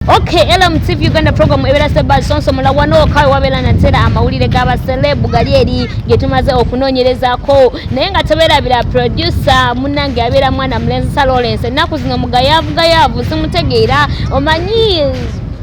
Okay, LMTV Uganda program ebera seba sonso mulabwa no kawe wabela na tera amawulire gaba celeb gali eri getumaze okunonyereza ko naye nga tebera bila producer munange abera mwana mlenzi sa Lawrence naku zino mugayavu gayavu simutegeera omanyi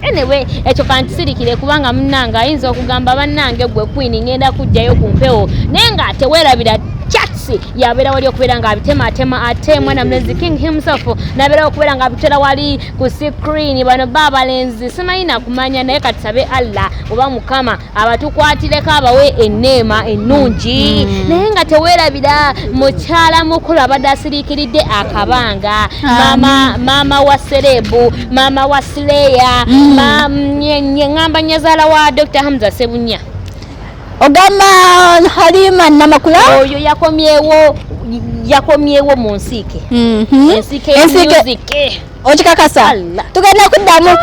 anyway ekyo kantisirikire kubanga munange ayinza okugamba bannange gwe queen ngenda kujjayo ku mpewo naye nga tewerabira Chelsea yabeera wali okubeera ng'abitemaatema ate mwana mulezi king himself nabeerawo okubeera ng'abitera wali ku sikrini bano ba abalenzi simanyi nakumanya naye katusabe allah oba mukama abatukwatireko abawe eneema ennungi mm. naye nga tewerabira mukyala mukulu abadde asiriikiridde akabanga mama, mama wa serebu mama wa sileya mm. ngamba nyazaala wa dr hamza sebunya ogamba halima namakula oyo yakomyewo yakomyewo mu nsiike mhm. ensiike ya music okikakasa tugenda kuddamu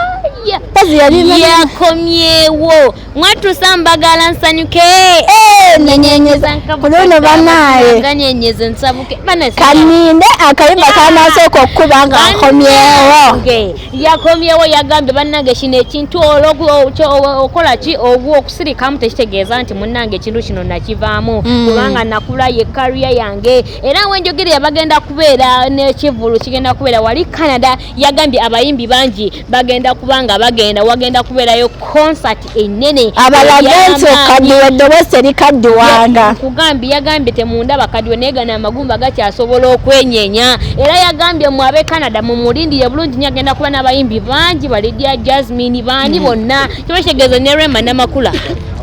mpozi yakomyewo mwatusa mbagala nsanyuke eh, nenyeenyezakuluno banaye kaninde akayimba kanasooka okukuba nga akomyewo yakomyewo yagambye bannange kino ekintu okola ki ogwo okusirikamu tekitegeeza nti munnange ekintu kino nakivaamu mm. kubanga nakula ye kariya yange era wenjogere yabagenda kubeera nekivulu kigenda kubeera wali canada yagambye abayimbi bangi bagenda kubanga bagenda wagenda kubeerayo concert enene abalaga nti okaddiwa eddoboosi terikaddiwanga nkugambye yagambye temundaba kadiwa naye gana amagumba gakyasobola okwenyenya era yagambye mwe ab'e canada mumulindire bulungi nyo agenda kuba n'abayimbi bangi balidia jasmine baani hmm. bonna kiba kitegeeza ne rema namakula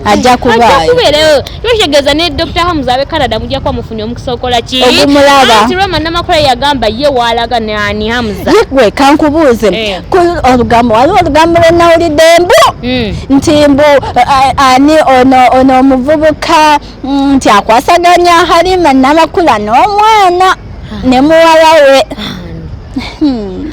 ajja kubaayo tukitegeeza ne dr hamuza abe canada mujja kuba mufunye omukisa okola kianti rema namakula yagamba ye waalaga nani hamuza yegwe kankubuuze eh. olugambo waliwo olugambo lwenawulidde mbu hmm. nti mbu ani ono omuvubuka mm, nti akwasaganya halima namakula n'omwana ne muwala we hmm.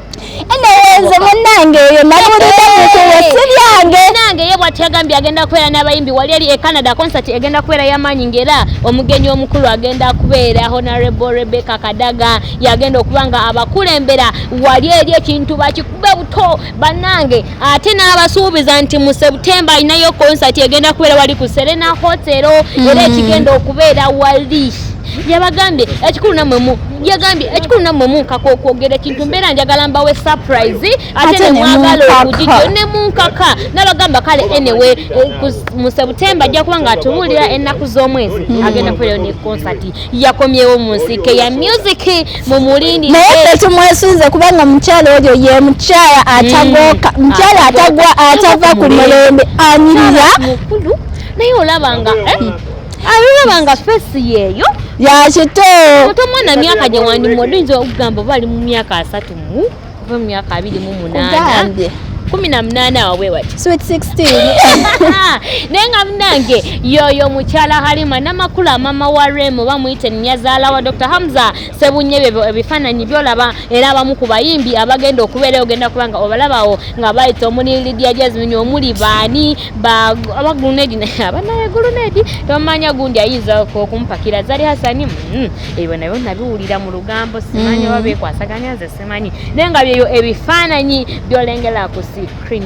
enewenze munange eyo nabulidde mukuwe si byange nange ye bwati yagambye agenda kubeera n'abayimbi wali eri e canada concert egenda kubeera yamaanyi ngaera omugenyi omukulu agenda kubeera honorable rebecca kadaga yagenda okuba nga abakulembera wali eri ekintu bakikube buto banange ate n'abasuubiza nti mu september alinayo konsati egenda kubeera wali ku serena hotero era mm-hmm. ekigenda okubeera wali yabagambye ekikulu namwe mu yagambye ekikulu namwe munkaka okwogera ekintu mbeera njagala mbawe surprise ate nemwagala okugigyo ne munkaka nabagamba kale enewe eh, mu september ajja kuba nga atubuulira ennaku z'omwezi hmm. agenda kubeerayo ne konsati yakomyewo mu nsike ya music mumulindi naye ffe tumwesunze kubanga omukyala oyo ye mukyala mm. atagoka mukyala atagwa atava ku mulembe anyirira mukulu naye olaba nga eh? mm. alaba nga fesi yeeyo yakito otomwana myaka gye wandimwe oduyinza okugamba oba ali mu myaka asatu mu kuva mu myaka abiri mu munaana kumi na munaana awo bwe wati sweet 16 naye nga munange yoyo mukyala halima namakula mama wa remo bamuyite nyazaala wa dr hamza sebunye byo ebifaananyi byolaba era abamu ku bayimbi abagenda okubeera ogenda kubanga obalabawo nga bayita omuli lidia jasmine omuli baani abagulunedi naye abanayegulunedi tomanya gundi ayinza okumpakira zali hasani mm. ebyo nabyo nabiwulira mu lugambo simanyi mm. oba bekwasaganya nze simanyi naye nga byeyo ebifaananyi byolengera ku sikrini